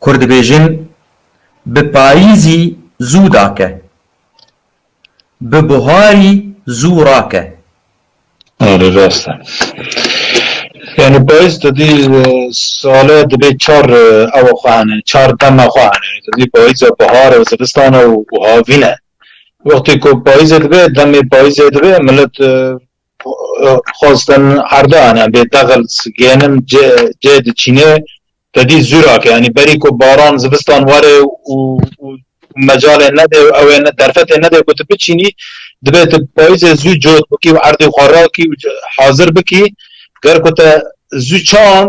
Kur dibêjin bi payîzî zû dake, bi buharî zû rake. Erê rast e. Yanî payîz tu dî sale dibê çar ewa xwe hene, çar dema xwe hene. Tu dî payîz e, bihar e, zivistan e û havîn e. Wextê ku payîzê dibe, demê payîzê dibe, milet Xwestin Erdogan em bê dexilt gênim cê diçînê tedî zûrak e. Yanî berî ku baran zivistan were û mecalê nede û ew ê derfetê nede ku tu biçînî divê tu payîzê zû cot bikî û erdê xwe rakî û hazir bikî. Ger ku te zû çand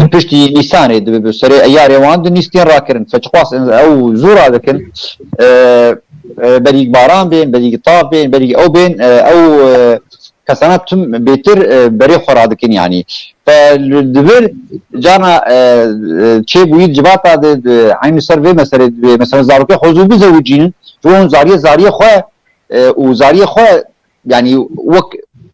Di piştî Nîsanê dibe bi serê eyarê wan di nîstên rakirin feçxwas ew zû radikin berîk baran bên berîk tav bên berîk ew bên ew kesana tim bêtir berê xwe radikin yanî dibir cana çê bûyî civata de eynî ser vê meselê divê mesela zarokê xwe zû bizewicînin ji hûn zariyê zariyê xwe û zariyê xwe yanî wek